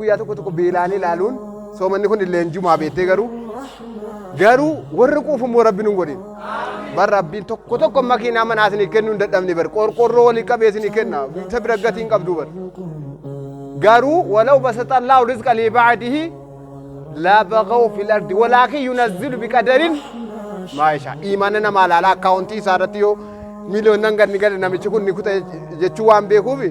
guyyaa tokko tokko beelaan ilaaluun soomanni kun illee jumaa beettee garuu garuu warri quufu immoo rabbi nun godhin bar rabbiin tokko tokko makiinaa manaa isinii kennuu hin dadhabne bar qorqorroo walii qabee isinii kenna isa bira gatii hin qabdu bar garuu walaw basata allahu rizqa li ba'dihi la baghaw fil ardi walakin yunazzilu biqadarin maa yashaa iimaana namaa laala akkaawuntii isaa irratti yoo miiliyoonnan gad ni gale namichi kun ni kuta jechuu waan beekuufi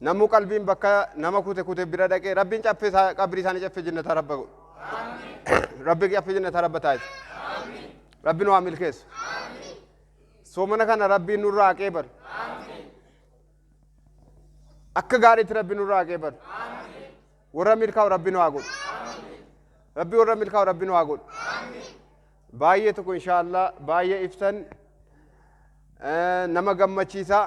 Namuu qalbiin bakka nama kute kute bira dhaqee rabbiin caffee isaa qabrii isaanii caffee jennataa rabba godhu. Rabbi caffee jennataa rabba taasisa. Rabbi nu haa milkeessu. Soomana kana rabbiin nurraa haqee bar. Akka gaariitti rabbi nurraa haqee bar. Warra milkaa'u rabbi nu haa godhu. Rabbi warra milkaa'u rabbi nu haa godhu. Baay'ee tokko inshaallah baay'ee ibsan eh, nama gammachiisaa.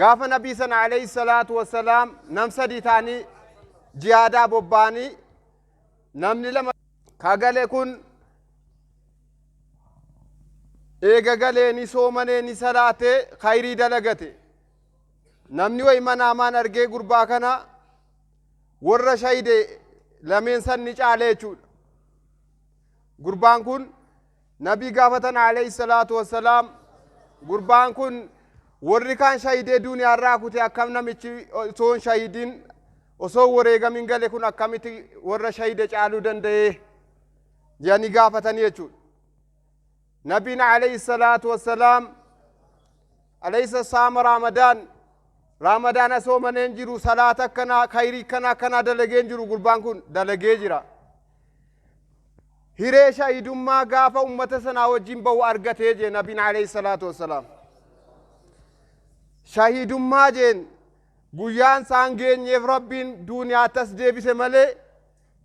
Gaafa nabii sana alayhi salaatu wassalaam nam sadii ta'anii jihaadaa bobba'anii namni lama kagale kun eega galee ni soomanee ni salaatee khayrii dalagate namni wayi manaamaan argee gurbaa kana warra shayide lameen san ni caale jechuudha gurbaan kun Nabii gaafatan alayhi salaatu wassalaam gurbaan kun warri kaan shahidee duuniyaarraa kute akkam namichi osoo hin shahidiin osoo hin wareegamin gale kun akkamitti warra shahide caaluu danda'ee jedhanii gaafatanii jechuudha. Nabiin alayhi salaatu wassalaam Aleysa saama Ramadan Ramadana soomanee hin jiru salaata akkanaa kayrii kana akkanaa dalagee hin jiru gurbaan kun dalagee jira. Hiree shahidummaa gaafa ummata sanaa wajjin bahu argatee jee nabiin alayhi salaatu wassalaam. Shahidummaa jeen guyyaan isaan geenyeef rabbiin duuniyaatti as deebise malee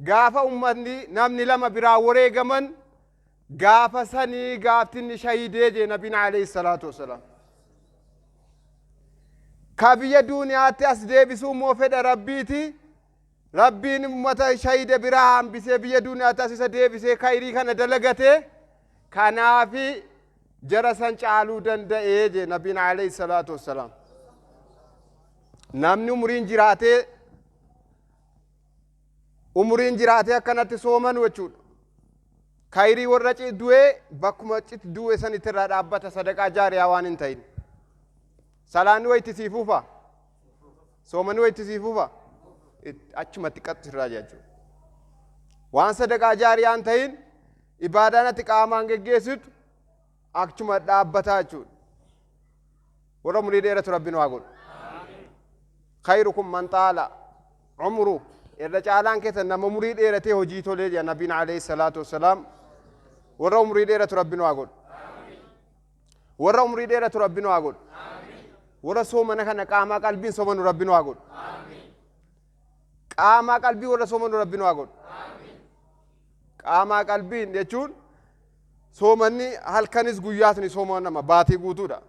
gaafa ummatni namni lama biraa wareegaman Gaafa sanii gaafti inni shahidee jee nabiin alayhi salaatu wasalaam. Ka biyya duuniyaatti as deebisuu immoo fedha rabbiiti. Rabbiin ummata shahide biraa hambisee biyya duuniyaatti as isa deebisee kayrii kana dalagate. Kanaafi jara san caaluu danda'ee jee nabiin alayhi salaatu wasalaam. Namni umriin jiraatee umuriin jiraatee akkanatti soomanu jechuudha. Kayrii warra du'ee bakkuma cit du'e sanitti irraa dhaabbata sadaqaa jaariyaa waan hin ta'in. Salaanni wayitti sii fuufa. Soomanni wayitti sii fuufa. Achumatti qaxxi irraa jechuudha. Waan sadaqaa jaariyaa hin ta'in ibaadaan ati qaamaan geggeessitu Achuma dhaabbataa jechuudha. Warra umurii dheeratu rabbi nu haa godhu. Khayrukum man xaala umru irra caalaan keessan nama umurii dheeratee hojii tolee jedha nabiin alayhi salaatu wassalaam. Warra umurii dheeratu rabbi nu haa godhu. Warra umurii dheeratu rabbi nu haa godhu. Warra soomana kana qaamaa qalbiin soomanu rabbi nu haa godhu. Qaamaa qalbii warra soomanu rabbi nu haa godhu. Qaamaa qalbiin jechuun soomanni halkanis guyyaas ni soomanama baatii guutuudha.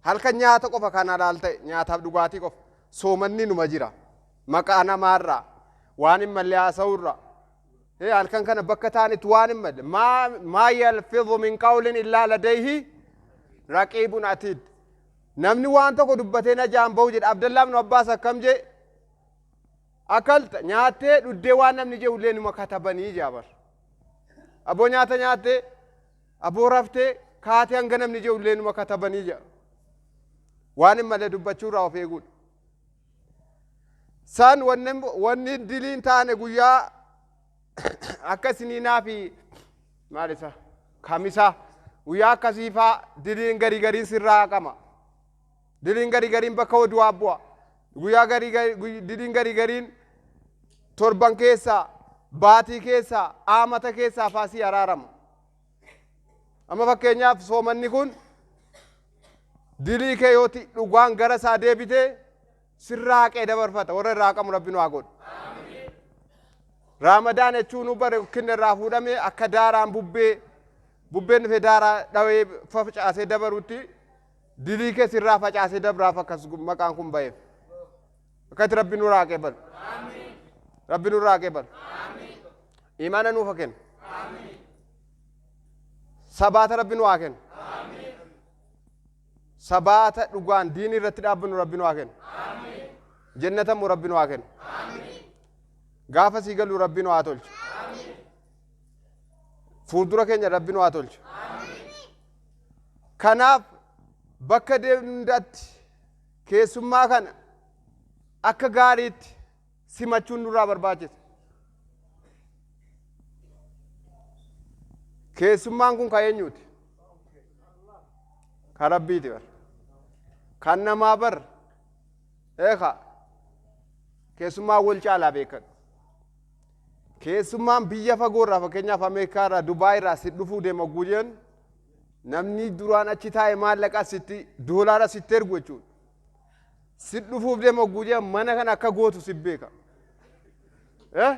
Halkan nyaata qofa kan halaal ta'e nyaataaf dhugaatii qofa soomanni numa jira. Maqaa namaarraa waan hin malle haasa'uurraa Ee, halkan kana bakka taa'anitti waan hin malle maa maa yalfidhu min qawlin illaa ladayhi raqiibun atiid. Namni waan tokko dubbatee najaa hin bahu jedhe. Abdallaa ibnu Abbaas akkam jee? Akalta nyaattee dhuddee waan namni jehu illee numa katabanii jaa bar. Aboo nyaata nyaattee aboo raftee kaatee hanga namni jehu illee numa katabanii jaa. Waan hin malle dubbachuu irraa of eeguudha. San wanni wanni dilii hin taane guyyaa akka isiniinaa fi maal isa kamisaa guyyaa akkasii faa diliin garii gariin sirraa haqama diliin garii gariin bakka oduwaa bu'a guyyaa garii garii- guy- diliin garii gariin torban keessaa baatii keessaa aamata keessaa faa sii araarama amma fakkeenyaaf soomanni kun dilii kee yooti dhugaan gara isaa deebitee sirraa haqee dabarfata warra irraa haqamu rabbi nu haa godhu raamadaa jechuun nu bare kinna irraa fuudhame akka daaraan bubbee bubbeen dhufe daaraa dhawee facaasee dabarutti dilii keessa irraa facaasee dabraaf akkas maqaan kun ba'eef akkatti rabbi nu irraa haqee balu rabbi nu irraa haqee balu imaana nuuf haa kennu sabaata rabbi nu haa kennu Sabaata dhugaan diinii irratti dhaabbannu Rabbi nu haa kennu. Jennata immoo Rabbi nu haa kennu. Gaafa sii galu Rabbi nu haa tolchu. Fuuldura keenya Rabbi nu haa tolchu. Kanaaf bakka deemnu hundaatti keessummaa kana akka gaariitti simachuun nurraa barbaachisa. Keessummaan kun kan eenyuuti? Kan Rabbiiti bar. Kan namaa bar. Eeka. Keessummaan wal caalaa beekan. Keessummaan biyya fagoo irraa fakkeenyaaf Ameerikaa irraa Dubaay irraa si dhufuu deema oguu jeen namni duraan achi taa'e maallaqa sitti doolaara sitti ergu jechuudha. Sin dhufuuf deema ogguu jedhan mana kana akka gootu sin beeka. Eh?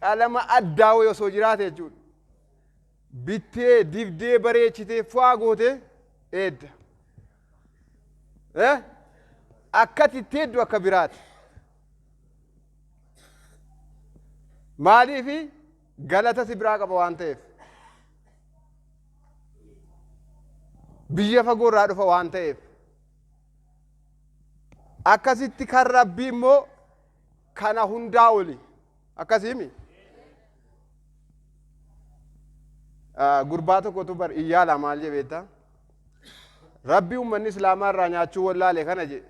Qalama addaa wayii osoo jiraate jechuudha. Bittee, dibdee, bareechitee, fu'aa gootee eedda. Eh? Akkati itti eeddu akka biraati. Maaliifi galata si biraa qaba waan ta'eef. Biyya fagoo irraa dhufa waan ta'eef. Akkasitti kan Rabbii immoo kana hundaa oli. Akkasiimi? Ah, Gurbaa tokkotu bar iyyaala maal jee beektaa? Rabbi uummanni Islaamaa irraa nyaachuu wallaale kana jee.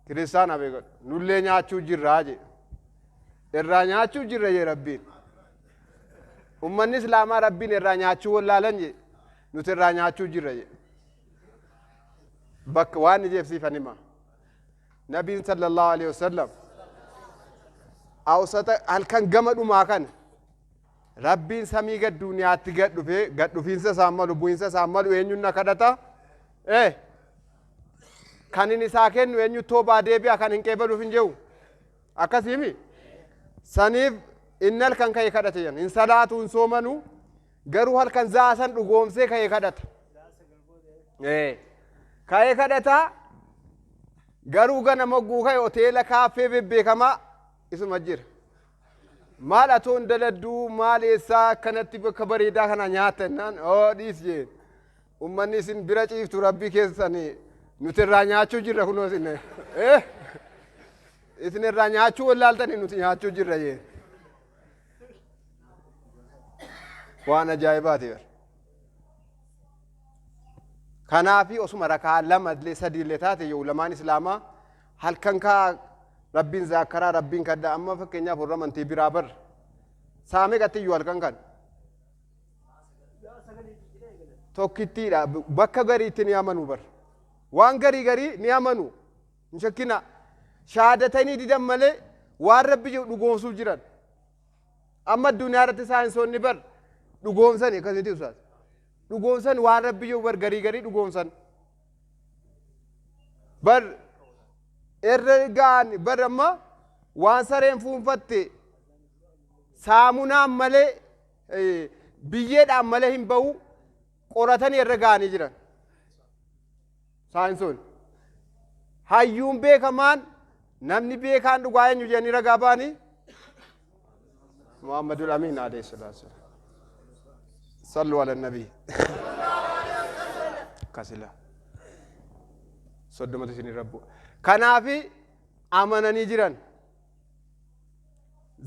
Kiristaana beekadhu. Nullee nyaachuu jirraa jee. Irraa nyaachuu jirra jee Rabbiin. Uummanni Islaamaa Rabbiin irraa nyaachuu wallaalan jee. Nuti irraa nyaachuu jirra jee. bakka waan ijeef siifan hima nabiin sallallahu alaihi wasallam awsata halkan gama dhumaa kana rabbiin samii gad duuniyaatti gad dhufee gad dhufiinsa isaan malu bu'iinsa isaan malu eenyuun na kadhata ee kan inni isaa kennu eenyu toobaa deebi'a kan hin qeebaluuf hin jehu akkasiimi saniif inni halkan ka'e kadhate jedhan hin salaatu hin soomanu Garuu halkan za'a san dhugoomsee ka'ee kadhata. Ee. Ka'ee kadhata. Garuu gana mogguu ka'e hoteela kaaffee bebbeekamaa isuma jira. Maal atoon daladduu maal eessaa akkanatti bakka bareedaa kana nyaata jennaan oo dhiis jeen. Ummanni isin bira ciiftu rabbii keessan nuti irraa nyaachuu jirra kunoo isin. Eh? Isin irraa nyaachuu wallaaltanii nuti nyaachuu jirra jeen. waan ajaa'ibaati bar kanaafi osuma rakaa lama illee sadii illee taate yoo ulamaan islaamaa halkan kaa rabbiin zaakaraa rabbiin kadha amma fakkeenyaaf warra amantii biraa bar saamee gatti iyyuu halkan kan tokkittiidha bakka gariitti ni amanu bar waan garii garii ni amanu Hin shakkinaa. Shahaadatayni didan malee waan Rabbi jedhu dhugoomsuuf jiran. Amma addunyaa irratti saayinsoonni bar dhugoomsani akkas miti ustaaz. Dhugoomsan waan Rabbi jedhu bar garii garii dhugoomsan. Bar irra ga'an bar amma waan sareen fuunfatte saamunaan malee eh, biyyeedhaan malee hin ba'u qoratanii irra ga'anii jiran. Saayinsoon. Hayyuun beekamaan namni beekaan dhugaa eenyu jedhanii ragaa ba'anii? Muhammadul Amiin alayhi salaatu salaam. Sallu ala nabii. Kasila. Soddomatu isin irra bu'a. Kanaafi amananii jiran.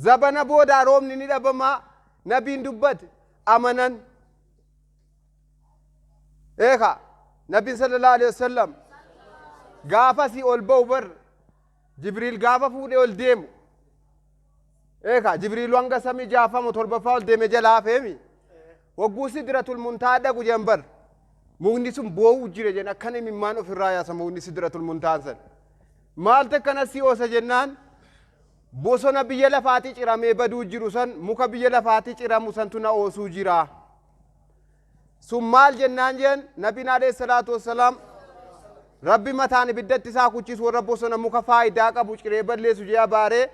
Zabana boodaa roobni ni dhabama nabiin dubbate amanan eeka nabbiin sallallahu alaihi wasallam gaafasii ol ba'u bar jibriil gaafa fuudhee ol deemu eeka jibriilu hanga samii jaafamu torbaffaa ol deeme jala hafeemi wagguu sidratul muntaa dhaqu jedhan bar mukni sun boo'uu jira jedhan akkan imimmaan ofirraa yaasa mukni sidratul muntaan san maaltu akkana si oosa jennaan bosona biyya lafaatii ciramee baduu jiru san muka biyya lafaatii ciramu santu na oosuu jiraa sun maal jennaan jeen nabiin alayhi salaatu wassalaam rabbi mataan ibiddatti isaa kuchisu warra bosona muka faayidaa qabu ciree balleessu jee abaaree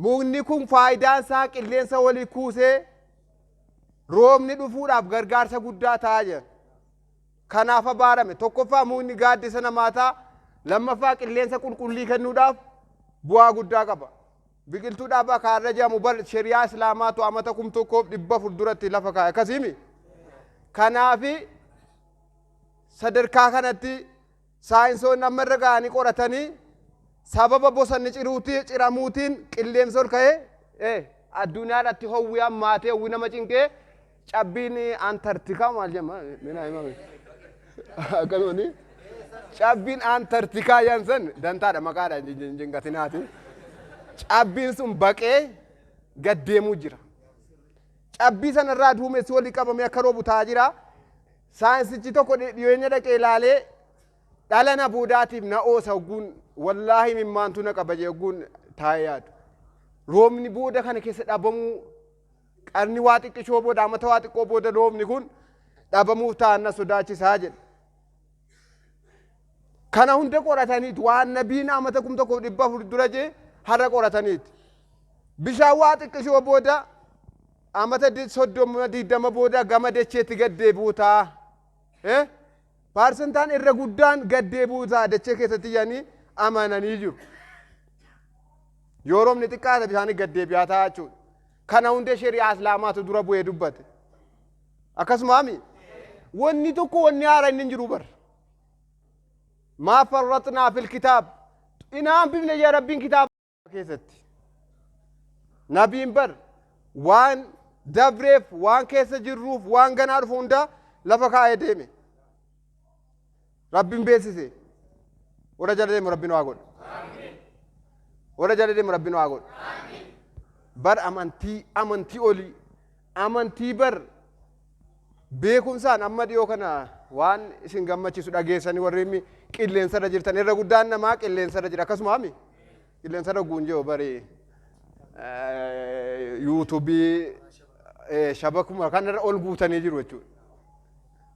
mukni kun faayidaan isaa qilleensa walii kuusee roobni dhufuudhaaf gargaarsa guddaa ta'a jeen kanaaf abaarame tokkoffaa mukni gaaddisa namaa ta'a lammaffaa qilleensa qulqullii kennuudhaaf bu'aa guddaa qaba. Biqiltuu dhaabaa ka har'a jedhamu bar sheri'aa Islaamaatu amata kum tokkoof dhibba afur duratti lafa kaa'e akkasiimi. Kanaafi sadarkaa kanatti saayinsoonni amma irra ga'anii qoratanii sababa bosanni ciruutii ciramuutiin qilleensi ol ka'ee eh, addunyaa irratti howwi hammaatee howwi nama cinqee Cabbiin Antartikaa maal jedhama? Minaa himaa mee. Akkasumatti cabbiin Antartikaa jedhan san dantaadha maqaadha hin jin- hin jinqatinaati. Cabbiin sun baqee gad deemuu jira. Cabbii sana irraa duumessi walii qabamee akka roobu ta'aa jira. Saayinsichi tokko dhi- dhiyeenya dhaqee ilaalee dhala na boodaatiif na oosa ogguun wallaahi mimmaantu na qaba jee ogguun taa'ee yaadu. Roobni booda kana keessa dhabamuu Qarni waa xiqqishoo booda amata waa xiqqoo booda loomni kun dhabamuuf ta'an na sodaachisaa jedhe. Kana hunda qorataniit waan nabiin amata kum tokkoof dhibba afur dura jee har'a qorataniit. Bishaan waa xiqqishoo booda amata di- soddoma digdama booda gama dacheetti gad deebi'uu ta'a. Eh? Paarsentaan irra guddaan gad deebi'uu ta'a dachee keessatti jedhanii amananii jiru. Yoo roobni xiqqaate bishaan gad deebi'aa ta'a jechuudha. Kana hunda sheri'aa islaamaatu dura bu'ee dubbate. Akkasumaami? Wanni tokko wanni haara inni hin jiru bar. Maa farratnaa fil kitaab. Inaan bifne jee rabbiin kitaaba keessatti. Nabiin bar waan dabreef, waan keessa jirruuf, waan ganaa dhufu hundaa lafa kaa'ee deeme. Rabbin beesise warra jala deemu rabbi nu haa godhu warra jala deemu rabbi nu haa godhu bar amantii amantii olii amantii bar beekumsaan amma dhiyoo kana waan isin gammachiisu dhageessanii warri inni qilleensarra jirtan irra guddaan namaa qilleensarra jira akkasuma hami qilleensarra guunjee bari yuutuubii shabakuma kanarra ol guutanii jiru jechuudha.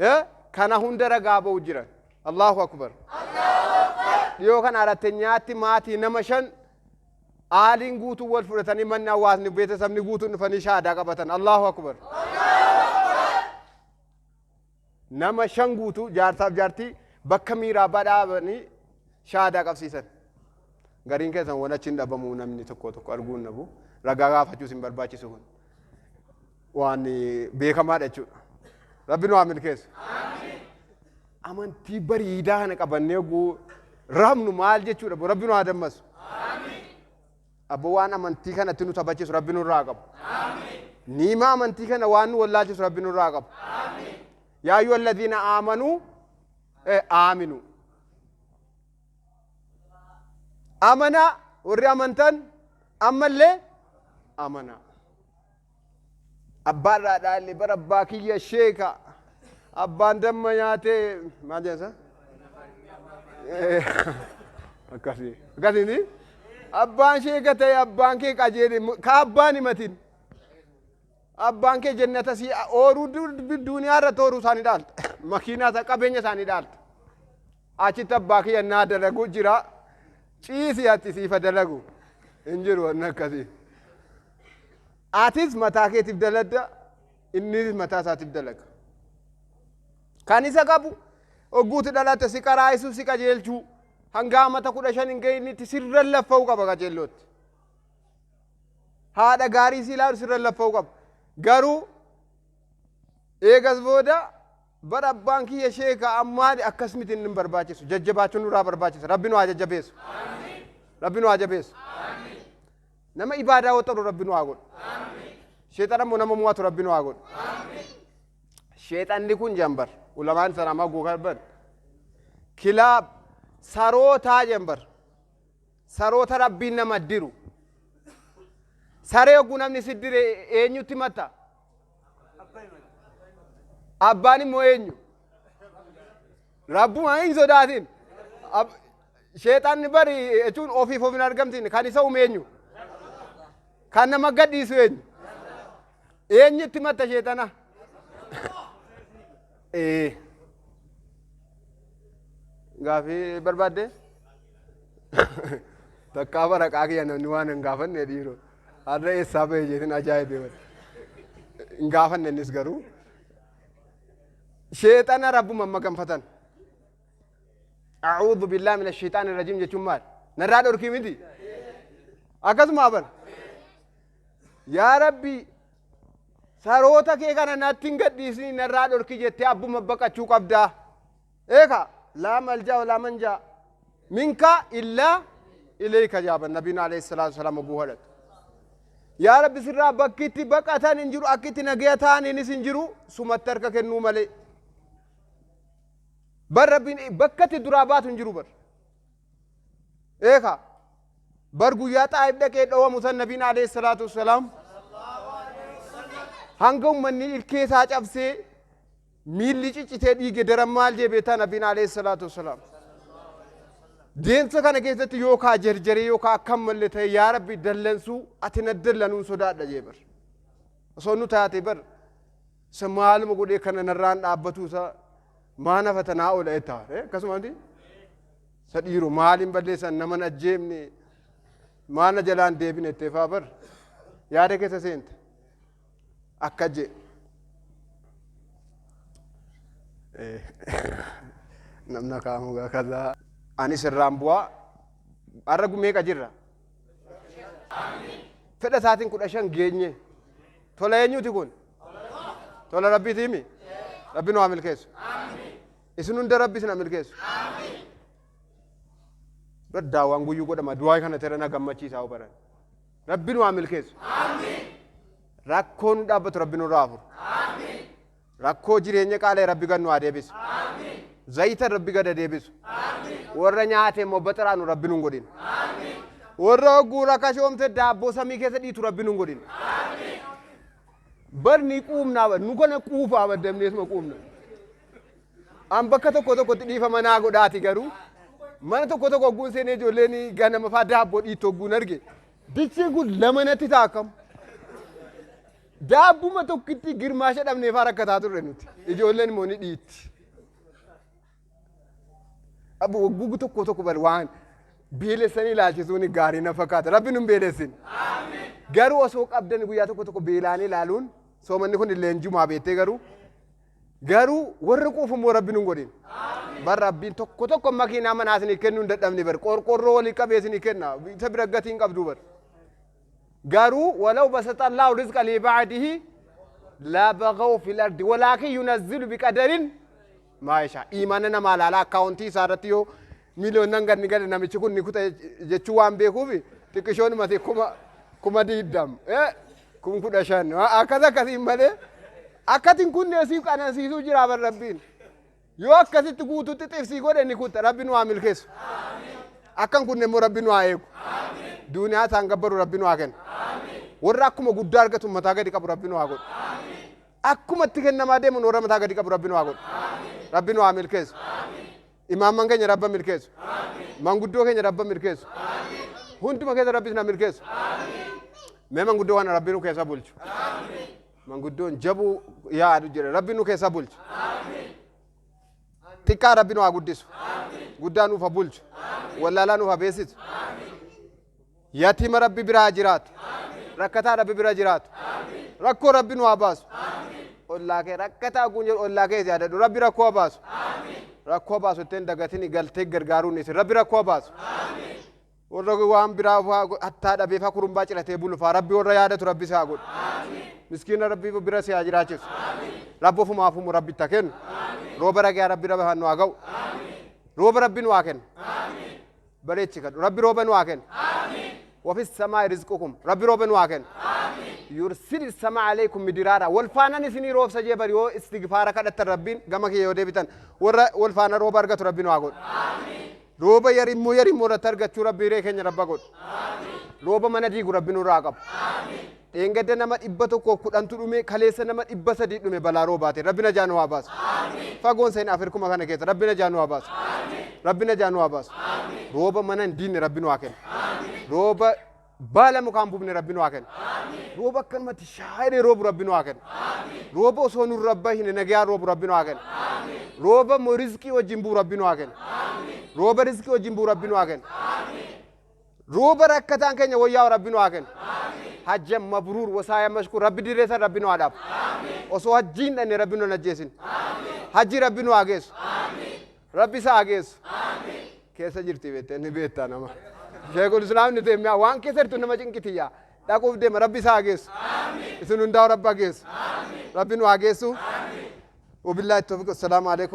Eh, kana hunda ragaa ba'u jira allahu akbar dhiyoo kana arattenyaatti maatii nama shan aaliin guutuu wal fudhatanii manni hawaasni beetesabni guutuun dhufanii shaadaa qabatan allahu akbar nama shan guutuu jaarsaaf jaartii bakka miiraa badhaabanii shaadaa qabsiisan gariin keessan wan achiin dhabamuu namni tokko tokko arguun nabu ragaa gaafachuus hin barbaachisu kun waan beekamaadha jechuudha. Rabbi nu haa milkeessu. Amantii bariidaa kana qabannee oguu raabnu maal jechuudha boo rabbi nu haa dammasu. Abbo waan amantii kanatti nu taphachiisu rabbi nurraa haa qabu. Niima amantii kana waan nu wallaalchisu rabbi nurraa haa qabu. Yaa ayyuha alladhiina aamanuu eh, aaminuu. Amanaa warri amantan ammallee amanaa. Abbaa irraa dhaalle bara abbaa kiyya sheeka abbaan damma nyaatee maal jedhasa? Akkasii akkasiiti. Abbaan sheeka ta'e abbaan kee qajeele ka abbaan himatin. Abbaan kee jennata si ooruu duniyaa irratti ooruu isaanii dhaalta. Makiinaa isaa qabeenya isaanii dhaalta. Achitti abbaa kiyya naa dalagu jira ciisi ati siifa dalagu hin jiru wanni akkasii. Atis mataa keetiif daladda innis mataa isaatiif dalaga. Kan isa qabu ogguuti dhalatte si qaraa'isu si qajeelchuu hanga amata kudha shan hin ga'initti sirran laffa'uu qaba qajeellootti. Haadha gaarii si ilaalu sirran laffa'uu qaba. Garuu eegas booda Bar abbaan kiyya sheeka ammaali akkas miti inni hin barbaachisu jajjabaachun nurraa barbaachisa rabbi nu haa jajjabeessu rabbi nu haa jabeessu nama ibaadaa waxaru rabbi nu haa godhu sheexana immoo nama mo'atu rabbi nu haa godhu sheexanni kun jambar ulamaan sana amma gogaa ban kilaab sarootaa jambar saroota rabbiin nama diru saree oguu namni siddire eenyutti matta Abbaan immoo eenyu? Rabbuma hin sodaatin. Ab- Sheexanni bari jechuun ofiif of hin argamtiin kan isa uume eenyu? Kan nama gadhiisu eenyu? Eenyutti matta sheexana? Ee. Gaafii barbaadde? Takkaa baraqaa kiyya namni waan hin gaafanne dhiiroo. Har'a eessaa bahe jeetin ajaa'ibee wal. Hin gaafanne innis garuu. Sheexana rabbuma amma ganfatan. A'uudhu billaa mina sheexaani rajiim jechuun maal? Narraa dhorkii miti? Akkasuma aban. Yaa rabbi saroota kee kana natti hin gadhiisni narraa dhorki jettee abbuma baqachuu qabdaa. eeka laa malja walaa manja minka illaa ilayka jaaban nabiin alayhi salaatu wasalaam oguu kadhatu yaa rabbi sirraa bakki itti baqatan hin jiru akki itti nagaya ta'aniinis hin jiru sumatti harka kennuu malee bar rabbiin bakka itti duraa baatu hin jiru bar eeka bar guyyaa xaa'ib dhaqee dhowamu san nabiin alayhi salaatu wasalaam hanga ummanni ilkee isaa cabsee Miilli ciccitee dhiige daran maal jee beektaa Nabiin alayhi salaatu wassalaam. Deemsa kana keessatti yoo kaa jarjaree yoo kaa akkam malle ta'e yaa Rabbi dallansuu ati na dallanuun sodaadha jee bar. Osoo nu taate bar isa maaluma godhee kana narraan dhaabbatuu isa maa nafa tanaa oola jettaa akkasumatti isa dhiiru maaliin balleessan nama na ajjeefne maa na jalaan deebine jettee faa bar yaada keessa seente. akka je namna kaamugaa kazaa anis irraan bu'aa har'a gumeeqa jirra fedha isaatiin kudha shan geenye tola eenyuuti kun tola rabbiiti himi rabbi nu haa milkeessu isin hunda rabbi isin haa milkeessu daddaawaan guyyuu godhama du'aa kana tera na gammachiisaa baran Rabbi nu haa milkeessu. Rakkoo nu dhaabbatu Rabbi nurraa haa furu. Rakkoo jireenya qaala'e Rabbi gad nu haa deebisu. Zayita Rabbi gad haa deebisu. Warra nyaate immoo baxaraanu Rabbi nun godhin. Warra hogguu rakashoomte daabboo samii keessa dhiitu Rabbi nun godhin. Bar ni quumnaa bar nu kana quufaa bar damneesuma quumna. An bakka tokko tokkotti dhiifama naa godhaati garuu mana tokko tokko ogguun seenee ijoolleen ganama faa daabboo dhiitti ogguun arge dichiin kun lama natti ta'a akkam. Daabbuma tokkitti girmaasha dhabnee faa rakkataa turre nuti ijoolleen immoo ni dhiitti. Abbo oggugu tokko tokko bal waan beelessanii ilaalchisuun gaarii na fakkaata rabbi nun beelessin. Garuu osoo qabdan guyyaa tokko tokko beelaanii ilaaluun soomanni kun illee jumaa beettee garuu Garuu warri quufu immoo rabbi nun godhin. Bar rabbiin tokko tokko makiinaa manaa isinii kennuu hin dadhabne bar qorqorroo walii qabee isinii kenna isa bira gatii hin qabdu bar. Garuu walaw basata Allahu rizqa li ba'dihi la baghaw fil ardi walaakin yunazzilu biqadarin maa yashaa. Iimaana namaa laala akkaawuntii isaa irratti yoo Miiliyoonnan gad ni gale namichi kun ni kuta jechuu waan beekuufi xiqqishoonumati kuma kuma diiddam eh, kum kudha shan wa- akkas akkasiin malee akkatiin kunnee siif qanansiisuu jira bar rabbiin yoo akkasitti guututti xifsii godhe ni kutta rabbi nu haa milkeessu akkan kunne immoo rabbi nu haa eegu duuniyaa isaan gabbaru rabbi nu haa kennu warra akkuma guddaa argatu mataa gadi qabu rabbi nu haa godhu akkuma itti kennamaa deemuun warra mataa gadi qabu rabbi nu haa godhu rabbi nu haa milkeessu Imaamman keenya Rabba milkeessu. Manguddoo keenya Rabba milkeessu. Hunduma keessa Rabbi isin milkeessu. Mee manguddoo kana Rabbi nu keessa bulchu. Manguddoon jabuu yaadu jira. Rabbi nu keessa bulchu. Xiqqaa Rabbi nu haa guddisu. Guddaa nuuf haa bulchu. Wallaalaa nuuf haa beeksisu. Yatiima rabbi bira haa jiraatu. Rakkataa rabbi bira jiraatu. Rakkoo rabbi nu haa baasu. Ollaa kee rakkataa ogguun jedhu ollaa kee yaadadhu rabbi rakkoo haa baasu. Rakkoo haa baasu ittiin dagatini galtee gargaaruu ni isin rabbi rakkoo haa baasu. Warra waan biraa faa hattaa dhabee faa kurumbaa ciratee bulu faa rabbi warra yaadatu rabbi si haa godhu. Miskiina rabbi bira si haa jiraachisu. Rabbi ofuma hafumu rabbi itti haa kennu. Rooba ragaa rabbi rabbi nu haa ga'u. Rooba rabbi nu haa kennu. bareechi kadhu rabbi rooba nu haa kennu wafi samaa rizqukum rabbi rooba nu haa kennu yursil sama alaykum midiraara wal faanan isinii roobsa jee bari yoo istigfaara kadhattan rabbiin gama kiyya yoo deebitan warra wal faana rooba argatu rabbi nu haa godhu rooba yarimmoo yarimmoo irratti argachuu rabbi hiree keenya rabba godhu rooba mana diigu rabbi nurraa qabu Dheengadda nama 110 tu dhume kaleessa nama 300 dhume balaa roobaatiin rabbi najaa nu haa baasu fagoon seen afirkuma kana keessa rabbi najaa nu haa baasu rabbi najaa nu haa baasu rooba mana hin diinne rabbi nu haa kennu rooba baala mukaan bufne rabbi nu haa kennu rooba akkanumatti shaayiree roobu rabbi nu haa kennu rooba osoo nu rabba hin nagayaan roobu rabbi nu haa kennu rooba mo rizqii wajjin buu rabbi nu haa kennu rooba rizqii wajjin buu rabbi nu haa kennu Ruuba rakkataan keenya woyyaa'u rabbi nu haa kennu. Hajja mabruur wasaaya mashkuur rabbi dirree san rabbi nu haa dhaabu. Osoo hajjii hin dhanne rabbi nu hin ajjeesin. Hajji rabbi nu haa geessu. Rabbi isa haa geessu. Keessa jirti beettee ni beektaa nama. Sheekul Islaam ni teemmiyaa waan keessa jirtu nama cinqitiyyaa. Dhaquuf deema rabbi isa haa geessu. Isin hundaa'u rabbi haa geessu. Rabbi nu haa geessu. Wabillahi tawfiq. Assalaamu alaikum.